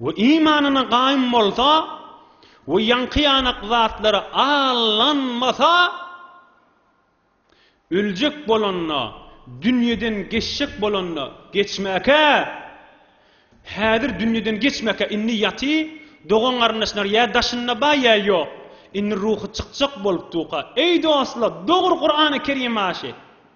we imanyna gaýym bolsa we ýaňky ýanak zatlara aldanmasa, öljek bolanda, dünýeden geçjek bolanda, geçmäkä, häzir dünýeden geçmäkä, indi ýaty, dogan-garyndaşlar ýa daşynda bar, ýa ýok, indi ruhy çykjak bolupdyka, eý dostlar, dogry Kurany Kerim aşy.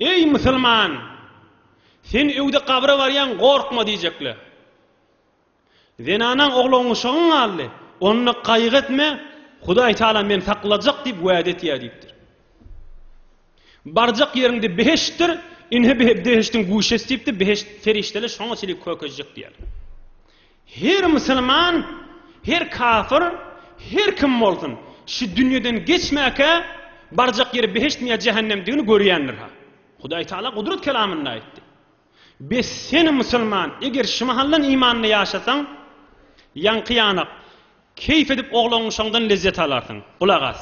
Eý, musulman! Sen öwde gabra barýaň, gorkma! diýjekler. Zenanaň ogly oňuşygyň galdy, onda gaýgy etme, Hudaý Tagala meni saklajak diýip wäde etýär diýipdir. Barjak ýeriňde behiştdir, ine behişdiň guşesi diýipdir, behişt serişdeler şoňa çenli kökeşjek diýýärler. Her musulman, her kafyr, her kim bolsun, şu dünýeden geçmäkä, barjak ýeri behiştmi ýa jähennemdigini görýändir-hä. Hudaý Tagala Gudrat kelamynda aýtdy. Bes sen, musulman, eger şu mahaldan imanda ýaşasaň, ýaňky ýanak, Keýp edip oglanyşyňdan lezzet alarsyň. Gulak as.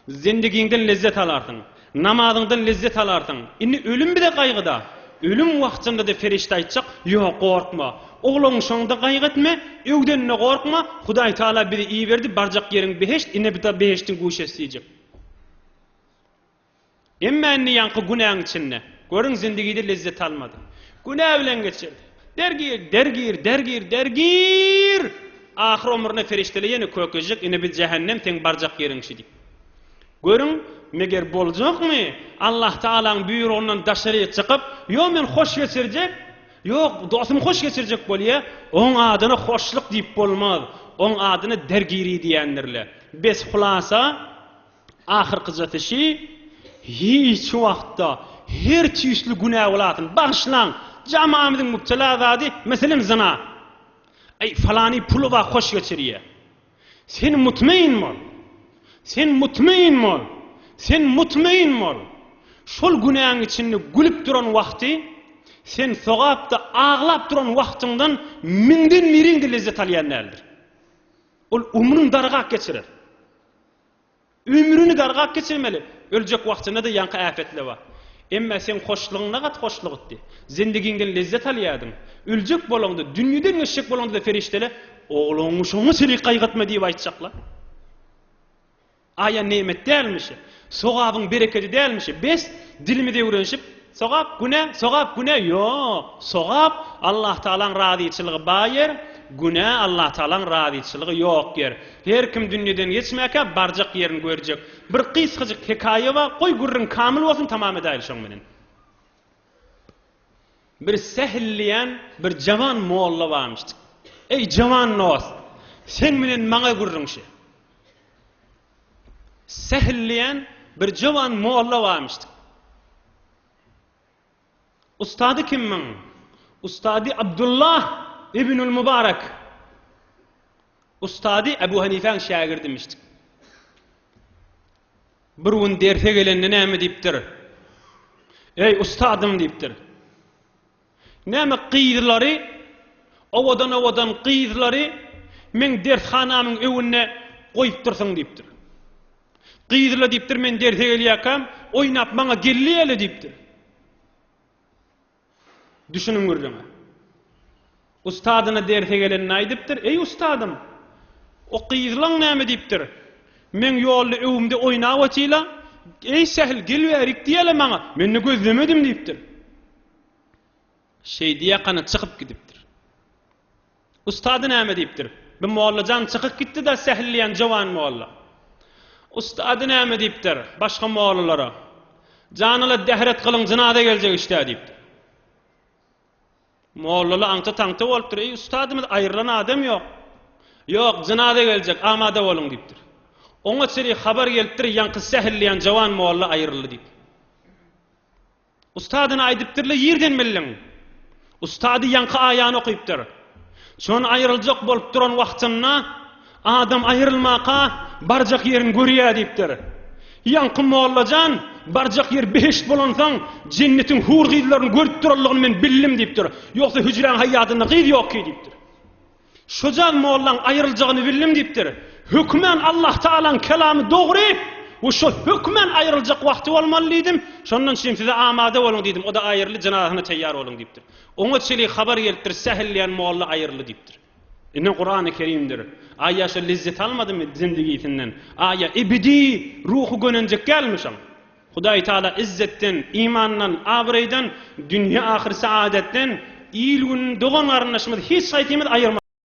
Zendegiňden lezzet alarsyň. Namazyňdan lezzet alarsyň. Indi ölüm bize gaýgy-da. Ölüm wagtynda-da perişde aýtjak, Ýok, gorkma. Oglanyşyňda gaýgy etme, öwdeninde gorkma, Hudaý Tagala bizi iberdi, barjak ýeriň behişt, ine bu-da behişdiň guşesi diýjek. Emma indi ýaňky günäň içinde, görüň, zindigide lezzet almady. Günä bilen geçirdi. Dergir, dergir, dergir, dergir! Ahyr omruna perişdeler ýene Kökejik, ine biz jähennem, seň barjak ýeriň şi diýip. Görüň, meger boljakmy, Allahtaalaň buýrugyndan daşaryk çykyp, ýo men hoş geçirjek, ýo dostum hoş geçirjek bolýa, oň adyna hoşluk diýip bolmaz, oň adyna dergiri diýendirler. Bes, hulasa, Ahyrkyjasy şi, hiç wagtda her tüýsli günä bolasyny bagyşlaň, jamamyzyň mübtela zady, meselem zyna. Eý, falany puly bar hoş geçirýä. Sen mutmeýin bol. Sen mutmeýin bol. Sen mutmeýin bol. Şol günäň içinde gülüp duran wagty, sen sogapda aglap duran wagtyňdan müňden biriň-de lezzet alýan däldir. Ol umrun dargap geçirer. Ömrüni gargap geçirmeli. Öljek wagtyna-da ýaňky äpetler bar. Emma seň hoşlugyňda gaty hoşlugtdy. Zendigiňden lezzet alýardyň. Öljek bolaňda, dünýeden göçjek bolaňda-da perişdeler, Ogluňy şoňa çelik gaýgytma diýip aýtjaklar. Aýa nemet dälmi şu? Sogabyň berekedi dälmi şu? Bes, dilimiz öwrenişip, Sogap, güne, sogap, güne, ýok. Sogap, Allah Tagalaň razyçylygy baý ýer, günä, Allah Tagalaň razyçylygy ýok ýer. Her kim dünýeden geçmäkä barjak ýerini görjek. Bir gysgajyk hekaýa bar, goý gürrüň kamyl bolsun tamam edäýeli şoň bilen. Bir Sähil diýen bir jawan molla barmyşdyk. Eý jawan dost, seň bilen maňa gürrüňşi. Sähel diýen bir jowan molla barmyşdyk. Ustady kim muň? Ustady Abdullah ibnül Mubarek. Ustady Ebu Hanifäň şägirdimişdik. Bir gün derse gelende näme diýipdir? Eý ustadym diýipdir. Näme gyzlary? Owadan-owadan gyzlary meň dershanamyň öwünde goýupdyrsyň diýipdir. Gyzlar diýipdir, men derse gelýäkäm, oýnap maňa gelliýäle diýipdir. Düşüniň gürrüňe. Ustadyna derse gelenini aýdypdyr, Eý ustadym, o gyzlaň näme diýipdir? Meň ýolda öwümde oýnap otyla, Eý sähel, gel bärik diýäle maňa, men-de gözlemedim diýipdir. Şeýdi ýakana çykyp gidipdir. Ustady näme diýipdir? Bu mollajan çykyk gitdi-de sähel diýen jowan molla. Ustady näme diýipdir? Başga mollalara. Janala dehret gylyň jynaza geljek işte diýipdir. Mollala aňta-taňta bolupdyr. Eý ustadymyz aýrylan adam ýok. Ýok, jynaza geljek, amada boluň diýipdir. Oňa çyri habar gelipdir, ýaňky sähel diýen jowan molla aýryldy diýip. Ustadyny aýdypdyr-la ýerden bildiň. Ustady ýaňky aýany okypdyr. Çon aýryljak bolup duran wagtynda adam aýrylmaka barjak ýerini görýä diýipdir. Ýaňky molla jan barjak ýer behişt bolansoň jennetiň hur gyzlaryny görüp duranlygyny men bildim diýipdir. Ýogsa hüjräň haýýadynda gyz ýokky diýipdir. Şojagaz mollaň aýryljagyny bildim diýipdir. Hökmän Allah Tagalaň kelamy dogry we şo hökmän aýryljak wagty bolmaly diýdim. Şondan çyn size amada boluň diýdim. O-da aýyrly jynazasyna teýýar boluň diýipdir. Oňa çili habar gelipdir, sähel diýen molla aýyrly diýipdir. Ine Kurany Kerimdir. Aýa şo lezzet almadymy zindigisinden? Aýa ebedi ruhy gönenjek dälmi şoň? Hudaý Taala izzetden, imandan, abraýdan, dünýe-ahyr saadetden il-gününi dogan-garyndaşymyzy hiç haýsymyz aýyrmasyn!